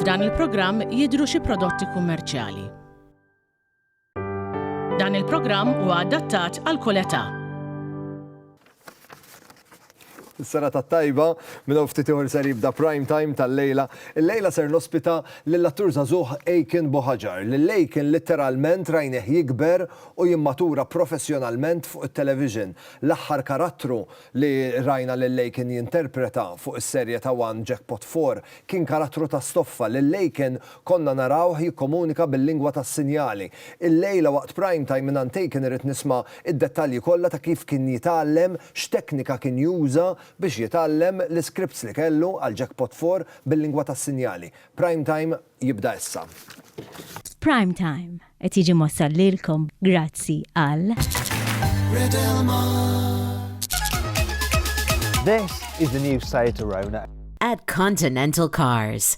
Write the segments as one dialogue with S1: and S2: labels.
S1: F'dan il-programm jidhru xi prodotti kummerċjali. Dan il-programm huwa adattat għal kull età.
S2: Is-serata t-tajba, minn hawn ftit ieħor ser jibda Prime Time tal-lejla. Illejla ser nospita lill-attur żagħżugħ Aiken Bohajar, lil Aiken litteralment rajnieh jikber u jimmatura professjonalment fuq it-television. L-aħħar karattru li rajna lil Aiken jinterpreta fuq is-serje ta' one Jackpot Four kien karattru ta' stoffa. Lil Aiken Konna narawh jikkomunika bil-lingwa tas-sinjali. Illejla waqt Prime Time mingħand Taken irrid nisma' id-dettalji kollha ta' kif kien jitgħallem, x'teknika kien juża biex jitgħallem, l-iskripts li kellu għal Jackpot Four bil-lingwa tas-sinjali. Prime Time jibda issa. Prime
S3: Time qed jiġi mwassal lilkom grazzi għal. This
S4: is the new site to Rona. At Continental
S5: Cars.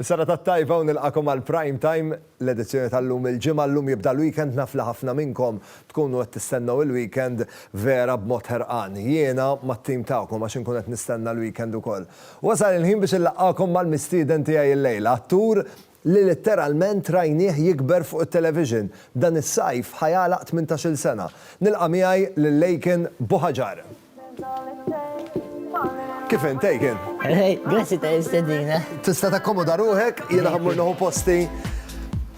S2: Is-serata t-tajba u nilqagħkom għal Prime Time, l-edizzjoni tal-lum il-Ġimgħa. Llum jibda l-weekend naf li ħafna minnkom tkunu qed tistennew il-weekend vera b'mod ħerqan. Jiena mat-team tagħkom għax inkun qed nistenna l-weekend ukoll. Wasal il-ħin biex inlaqqagħkom mal-mistieden tiegħi illejla, attur li litteralment rajnieh jikber fuq it-television. Dan is-sajf ħa jagħlaq tmintax-il sena. Nilqa' miegħi lil Laken Buhaġar. Kif int, Taken? Grazzi ta'
S6: istedina. Tista' takkomoda
S2: ruħek, jiena ħammur noħu posti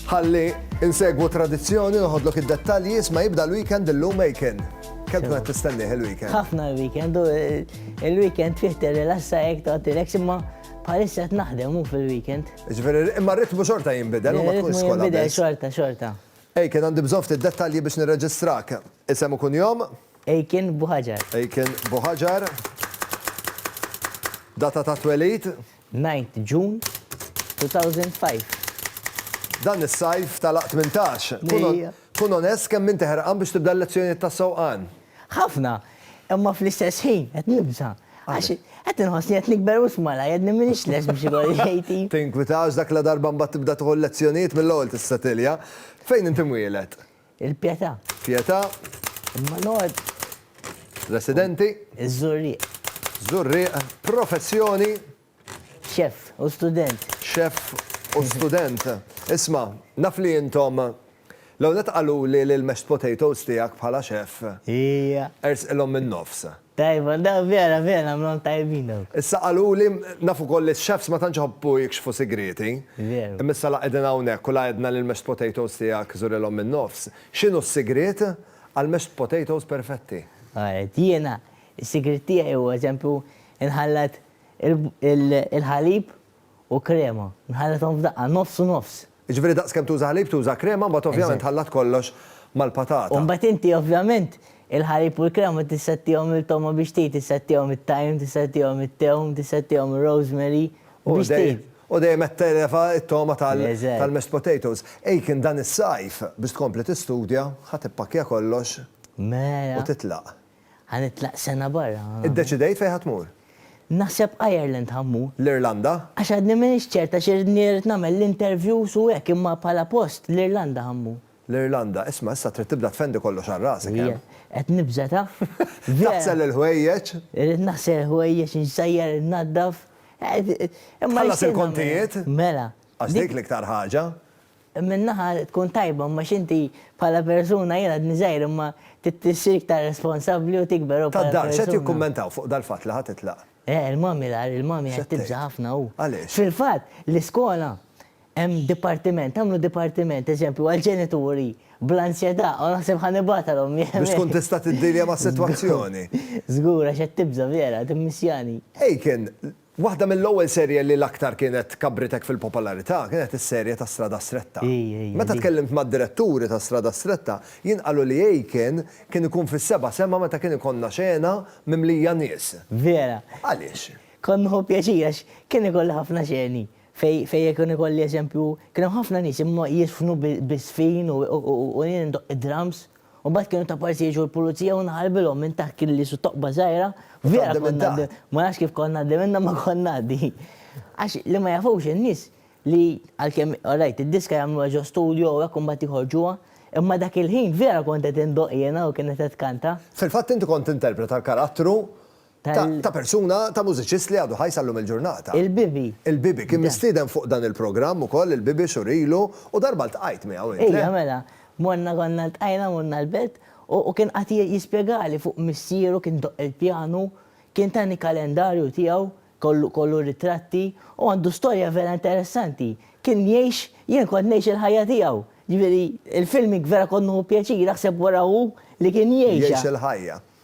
S2: ħalli insegwu tradizzjoni noħodlok id-dettalji isma' jibda l-weekend illum Aiken. Kemm tkun qed tistennieh il-weekend? Ħafna l-weekend u
S6: il-weekend fih tirrilassa hekk tagħti lek imma bħalissa qed naħdem hu fil-weekend. Ġifieri imma r-ritmu
S2: xorta jinbidel u ma tkunx skola. Jinbidel xorta, xorta.
S6: Aiken għandi
S2: bżonn ftit dettalji biex nirreġistrak. Isem u kunjom? Eiken Buhajar.
S6: Eiken Buhajar.
S2: Data ta' twelid? Ninth
S6: June 2005.
S2: Dan is-sajf talaq tmintax. Kun kun onest kemm inti ħerqan biex tibda l-lezzjonijiet tas-sewqan? Ħafna.
S6: Imma fl-istess ħin qed nibża'. Għax qed inħossni qed nikber wisq malajr, għadni m'iniex lest biex ikolli ħejti. Tinkwitax dak ladarba
S2: mbagħad tibda tieħu l-lezzjonijiet mill-ewwel tista' tilja. Fejn inti mwieled? Il-Pietà.
S6: Pietà.
S2: Imma
S6: noqgħod.
S2: Residenti. Iż-Żurrieq.
S6: Żurrieq.
S2: Professjoni.
S6: Xef u student. Xef
S2: u student. Isma', naf li intom L-ewwel nett qaluli li l-mashed potatoes tiegħek bħala xef. Hija.
S6: Ersqilhom min-nofs.
S2: Tajba daw
S6: vera vera għamlhom tajbin dawk. Issa qaluli,
S2: naf ukoll li x-chefs ma tantx iħobbu jikxfu sigrieti. Veru. Imma issa la
S6: qegħdin hawnhekk
S2: u la għedna li l-mashed potatoes tiegħek żurilhom min-nofs. X'inhu s-sigriet għall-mashed potatoes perfetti? Alright, jiena
S6: s-sigriet tiegħi huwa eżempju inħallat il-ħalib u krema, nħallathom f'daqqa, nofs u nofs. Jiġifieri daqs kemm tuża
S2: ħalib tuża krema mbagħad ovvjament tħallat kollox mal-patata. U mbagħad inti
S6: ovvjament il-ħalib u l-krema tissettihom il-togħma biex tgħid, tissettihom it-tajm, tissettihom it-tewm, tissettihom ir-rosemary biex tgħid. U dejjem qed televa
S2: t-togħma tal-mashed potatoes. Aiken dan is-sajf biex tkompli tistudja ħa tippakkja kollox u
S6: titlaq.
S2: Ħa nitlaq sena
S6: barra. Iddeċidejt fejn ħa tmur?
S2: Naħseb
S6: Ireland ħa mmur. L-Irlanda? Għax
S2: għadni m'iniex
S6: ċert għax iridni irid nagħmel l-interviews u hekk imma bħala post l-Irlanda ħa mmur. L-Irlanda? Isma'
S2: issa trid tibda tfendi kollox għal rasek, eh? Qed nibża'
S6: taf. Taħsel
S2: il-ħwejjeġ? Irid naħsel
S6: il-ħwejjeġ, insajjar, innaddaf.
S2: Imma. Tħallas il-kontijiet? Mela. Għax
S6: dik l-iktar
S2: ħaġa. Minn naħa
S6: tkun tajba imma x'inti bħala persuna jien għadni żgħir imma trid issir iktar responsabbli u tikber u bħala persuna. Tad-dar x'qed jikkummentaw fuq
S2: dal-fatt li ħa titlaq? Eh, il-mommy l-agħar,
S6: il-mommy qed tibża' ħafna u. Għaliex? Fil-fatt,
S2: l-iskola
S6: hemm dipartiment, għamlu dipartiment, eżempju, għall-ġenituri bl-ansjetà u naħseb ħa nibgħatha l-ommi hemmhekk. Biex tkun tista' tiddealja
S2: mas-sitwazzjoni. Żgur għax qed
S6: tibża' vera, timmissjani. Aiken,
S2: Waħda mill-ewwel serje li l-aktar kienet kabbritek fil-popolarità kienet is-serje ta' Strada Stretta. Meta tkellimt mad-diretturi ta' Strada Stretta, jien qalu li Aiken kien ikun fis-seba' sema meta kien ikollna xena mimlija nies.
S6: Vera.
S2: Għaliex? Kont nieħu
S6: pjaċir għax
S2: kien ikolli
S6: ħafna xeni fejn kien ikolli eżempju, kien hemm ħafna nies imma jiżfnu biż-żfin u jien indoqq id-drums U mbagħad kienu ta' parsi jiġu l-pulizija u nħarbilhom minn taħt kien li su toqba żgħira. Vera konna ma nafx kif konna għaddi minna ma konna għaddi. Għax li ma jafux in-nies li għalkemm rajt id-diska jagħmluha ġo studio u hekk u mbagħad joħorġuha, imma dak il-ħin vera kont qed indoqq jiena u kienet qed tkanta. Fil-fatt inti kont
S2: tinterpreta l-karattru ta', ta' persuna, ta' mużiċist li għadu ħaj sal-lum il-ġurnata. Il-Bibi. Il-Bibi.
S6: Kien mistieden
S2: fuq dan il-programm ukoll il-Bibi xhur ilu u darba ltqajt miegħu int, le? Ejja, mela.
S6: Morna konna ltqajna morna l-belt u kien qagħad jispjegali fuq missieru kien idoqq il-pjanu, kien tani kalendarju tiegħu kollu kollu ritratti u għandu storja vera interessanti. Kien jgħix, jien kont ngħix il-ħajja tiegħu. Ġifieri, il-filming vera kont nieħu pjaċir, aħseb wara hu li kien jgħixha. Jgħix il-ħajja.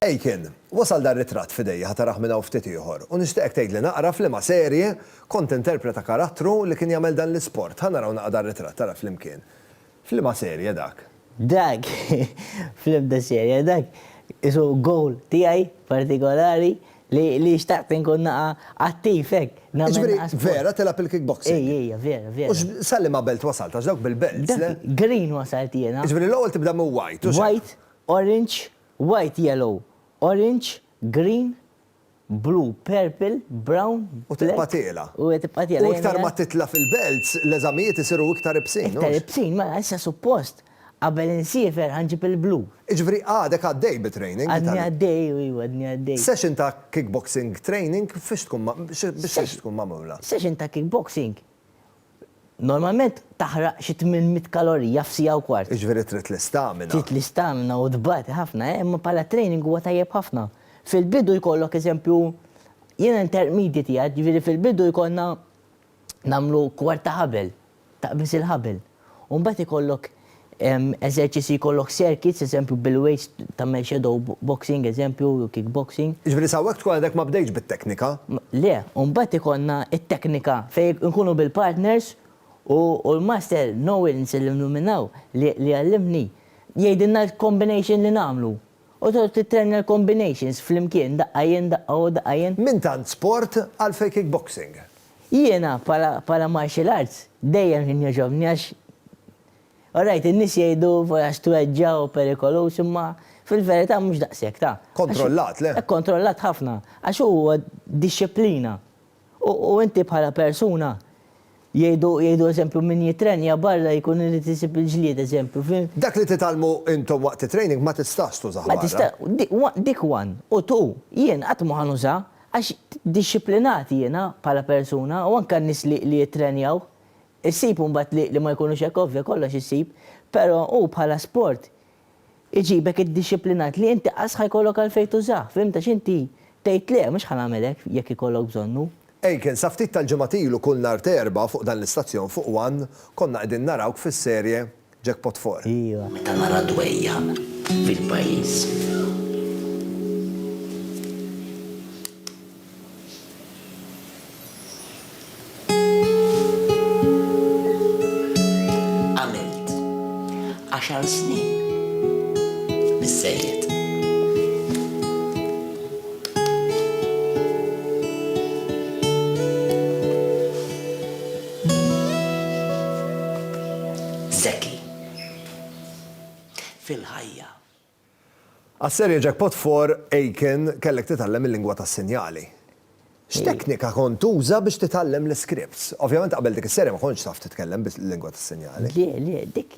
S2: Aiken, wasal dan ritratt f'idejja ħa taraħ minn hawn ftit ieħor u nixtieqek tgħidli naqra f'liema serje kont tinterpreta karattru li kien jagħmel dan l-isport ħa naraw naqra dan ritratt ara flimkien f'liema serje dak. Dak
S6: fl-ebda serje dak qisu goal tiegħi partikolari li xtaqt inkun naqra attiv hekk nagħmel naqra sport. Jiġifieri vera
S2: tilgħab il-kickboxing? Ej ej vera vera. U x
S6: sa liema belt
S2: wasalt għax dawk bil-belts le? Dak green wasalt
S6: jiena. Jiġifieri l-ewwel tibda minn
S2: white u x'hekk? White, orange
S6: White, yellow, orange, green, blue, purple, brown, black. U tibqa' tiela'.
S2: U tibqa' tiela'. U
S6: iktar ma titla'
S2: fil-belts, l-eżamijiet isiru iktar ibsin, hux? Iktar ibsin, mela issa
S6: suppost qabel insiefer ħa nġib il-blue. Jiġifieri għadek
S2: għaddej bi training? Għadni għaddej, iva għadni
S6: għaddej. Session ta' kickboxing
S2: training fiex tkun, biex tkun magħmula? Session ta' kickboxing
S6: Normalment taħraq xi tmien mitt kalorija f'siegħa u kwart. Jiġifieri trid l-istamina.
S2: Trid l-istamina
S6: u tbati ħafna, eh, imma bħala training huwa tajjeb ħafna. Fil-bidu jkollok eżempju, jiena intermediate qiegħed, jiġifieri fil-bidu jkollna nagħmlu kwart ta' ħabel, taqbiż il-ħabel. U mbagħad ikollok eżerċizzji jkollok circuits, eżempju bil-weights tagħmel shadow boxing eżempju jew kick boxing. Jiġifieri sa hawnhekk tkun għadek
S2: ma bdejtx bit-teknika? Le, u mbagħad
S6: ikollna t-teknika fejn inkunu bil-partners u l-master Nowens li nnuminaw li għallimni jgħidilna l-combination li nagħmlu u tgħod tittrenja l-combinations flimkien daqqa jien daqqa hu daqqa jien. Minn tant sport
S2: għalfejn kick boxing? Jiena
S6: bħala martial arts dejjem kien jogħġobni għax all right in-nies jgħidu għax tweġġa' u perikoluż imma fil-verità mhux daqshekk ta'. Kontrollat le?
S2: Kontrollat ħafna
S6: għax huwa dixxiplina u inti bħala persuna jgħidu eżempju min jittrenja barra jkun irid isib il-ġlied eżempju fi. Dak li titgħallmu
S2: intom waqt it-training ma tistax tużah barra. Dik
S6: one u two jien qatt mhu ħa nuża. Għax dixxiplinat jiena bħala persuna u anke n-nies li li jittrenjaw. Issib imbagħad li li ma jkunux hekk ovvja kollox issib, però hu bħala sport iġibek iddixxiplinat li inti qas ħa jkollok għalfejn tużah, fhimt għax inti tgħid le mhux ħa nagħmel hekk jekk ikollok bżonnu. Aiken, sa ftit
S2: tal-ġimgħat ilu kull nhar t'Erbgħa fuq dan l-istazzjon fuq one konna qegħdin narawk fis-serje Jackpot Four. Iva. Meta nara
S6: dwejjaq
S7: fil-pajjiż. Għamilt għaxar snin biżżejjed. Zeki. Fil-ħajja.
S2: Għas-serje Jackpot for Aiken kellek titgħallem il-lingwa tas-sinjali. X'teknika kont tuża biex titgħallem l-iskripts? Ovvjament qabel dik is-serje ma kontx taf titkellem bil-lingwa tas-sinjali. Le, le, dik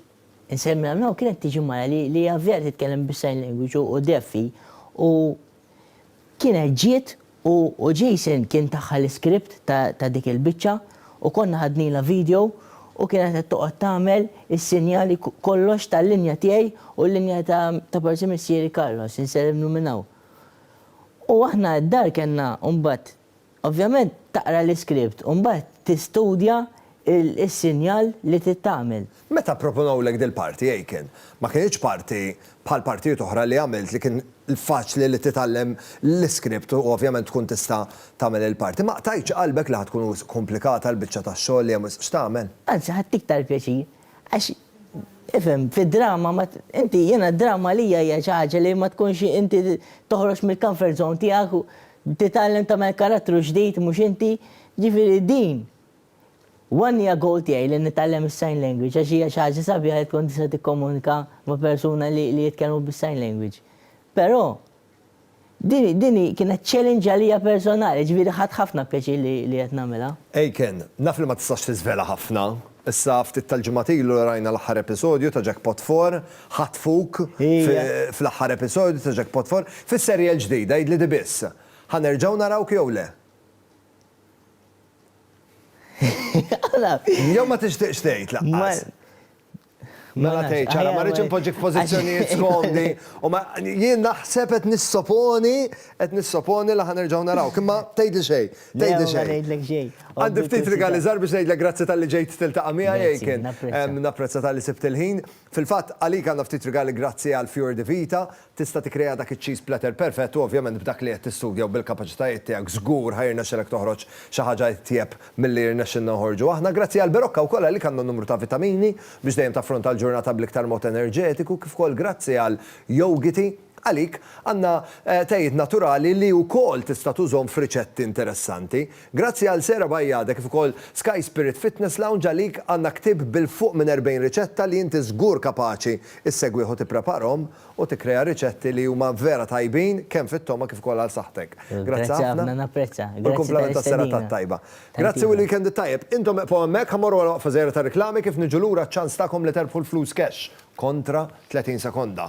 S6: insemmi hawn hawn kienet tiġi mara li hija vera titkellem bis-sign language u deaf hi u Kienet ġiet u u Jason kien taha l-iskript ta' ta' dik il-biċċa u konna ħadnilha video u kienet qed toqgħod tagħmel is-sinjali ku kollox tal-linja tiegħi u l-linja ta' ta' forsi missieri Carlos, insellmlu minn hawn. U aħna d-dar kellna mbagħad Ovvjament taqra l-iskript u mbagħad tistudja s-sinjal li trid tagħmel. Meta pproponewlek
S2: dil-parti, Aiken, ma kinitx parti bħal partijiet oħra li għamilt li kien faċli li titgħallem l-iskript u ovvjament tkun tista' tagħmel il-parti. Ma qtajtx qalbek li ħa tkun wisq komplikata l-biċċa tax-xogħol li hemm wisq x'tagħmel? Anzi ħadt iktar
S6: pjaċir għax ifhem, fid-drama ma inti jiena d-drama għalija hija xi ħaġa li ma tkunx inti toħroġ mill-comfort zone tiegħek u Titgħallem tagħmel karattru ġdid mhux inti, jiġifieri din one hija goal tiegħi li nitgħallem is-sign language għax hija xi ħaġa sabiħa li tkun tista' tikkomunika ma' persuna li li jitkellmu bis-sign language. Però din din hi kienet challenge għalija personali, jiġifieri ħadt ħafna pjaċir li li qed nagħmilha. Aiken, naf
S2: li ma tistax tiżvela ħafna. Issa ftit tal-ġimgħat ilu rajna l-aħħar episodju ta' Jackpot Four ħatfuk fl-aħħar episodju ta' Jackpot Four. Fis-serje l-ġdida, għidli di biss, ħa nerġgħu narawk jew le? Jew ma tixtieqx tgħid lanqas? Mela tgħid ċara, ma rridx inpoġġik f'pożizzjonijiet skomdi u ma jien naħseb qed nissoponi, qed nissoponi li ħa nerġgħu narawk. Imma tgħidli xejn, tgħidli xejn. Le, ma ngħidlek xejn. Għandi ftit rigali żgħar biex ngħidlek grazzi talli ġejt tiltaqa' miegħi, Ejken. Napprezza talli sibt il-ħin. Fil-fatt, għalik għandna ftit rigali grazzi għal Fior di Vita, tista' tikkrea dak iċ-cheese platter perfett u ovvjament b'dak li qed tistudja u bil-kapaċitajiet tiegħek żgur ħa jirnexxilek toħroġ xi ħaġa itjeb milli rnexxilna noħorġu aħna. Grazzi għal Berocca wkoll għalik għandna numru ta' vitamini biex dejjem taffronta l-ġurnata bl-iktar mod enerġetiku kif ukoll grazzi għal Yougiti, Għalik, għandna tejiet naturali li wkoll tista' tużhom f'riċetti interessanti. Grazzi għal Sarah Bajada kif ukoll Sky Spirit Fitness Lounge għalik għandna ktieb bil-fuq minn 40 riċetta li inti żgur kapaċi issegwih u tippreparhom u tikkrea riċetti li huma vera tajbin kemm fit-togħma kif ukoll għal saħħtek. Grazzi ħafna. U l-kumplament
S6: tas-serata
S2: t-tajba. Grazzi u l-weekend it-tajjeb. Intom eqfgħu hemmhekk, ħa mmorru għal waqfa żgħira tar-riklami kif niġu lura ċ-ċans tagħkom li terbħu l-flus cash kontra 30 sekonda.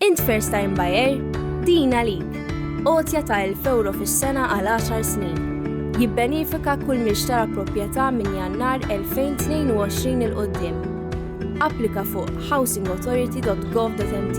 S8: Int first time buyer? Din għalik. Għotja ta' 1000 euro fis-sena għal 10 snin. Jibbenifika kull min xtara proprjetà minn jannar 2022 il-qoddim. Applika fuq housingauthority.gov.mt.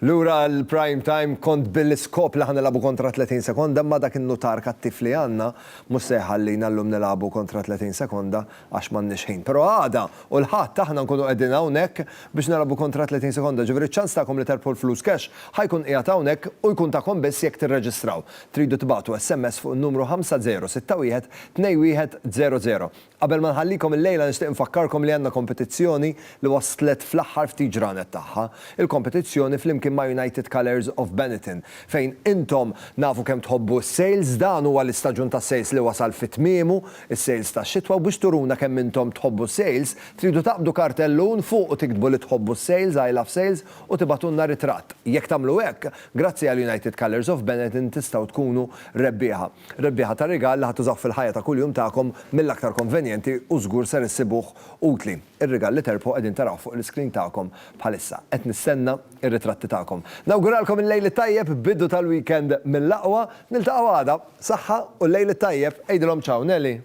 S2: Lura l-prime time kont bil-iskop li ħa nilagħbu kontra 30 sekonda imma dak in-nutar kattiv li għandna mhux se jħallina llum nilagħbu kontra 30 sekonda għax m'għandniex ħin. Però għada u l-Ħadd aħna nkunu qegħdin hawnhekk biex nilagħbu kontra 30 sekonda, ġifieri ċ-ċans tagħkom li terbħu l-flus cash ħa jkun qiegħed hawnhekk u jkun tagħkom biss jekk tirreġistraw. Tridu tibagħtu SMS fuq in-numru 5061 2100. Qabel ma nħallikom illejla nixtieq infakkarkom li għandna kompetizzjoni li waslet fl-aħħar ftit ġranet tagħha. Il-kompetizzjoni flimkien ma' United Colours of Benetton fejn intom nafu kemm tħobbu s-sales, dan huwa l-istaġun tas-sales li wasal fi tmiemu, is-sales tax-xitwa u biex turuna kemm intom tħobbu s-sales, tridu taqbdu kartellun fuqu tiktbu li tħobbu s-sales, I love sales, u tibagħtulna ritratt. Jekk tagħmlu hekk, grazzi għal United Colours of Benetton tistgħu tkunu rebbieħa. Rebbieħa ta' rigal li ħa tużaw fil-ħajja ta' kuljum tagħkom mill-aktar konvenjenti u żgur ser issibuh utli. Ir-rigal li terbħu qegħdin tarawh fuq l-iscreen tagħkom bħalissa. Qed nistenna r-ritratti tagħkom. Nawguralkom il-Lejl it-Tajjeb, bidu tal-weekend mill-aqwa. Niltaqgħu għada. Saħħa u l-Lejl it-Tajjeb. Għidilhom ciao Nelly.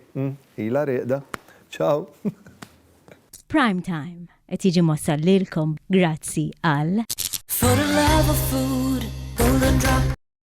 S2: Ilha rieqda. Ciao.
S3: Prime Time qed jiġi mwassal
S9: lilkom grazzi
S3: għal.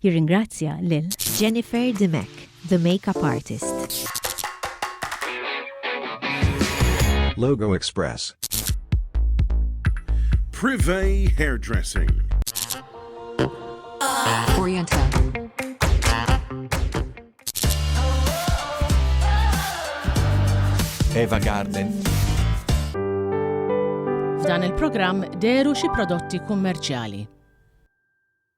S3: Jirringrazzja lil. Jennifer Dimech, the makeup artist.
S10: Logo Express.
S7: Privé Hairdressing.
S5: Oriental.
S10: Eva Garden.
S1: F'dan il-programm deru xi prodotti kummerċjali.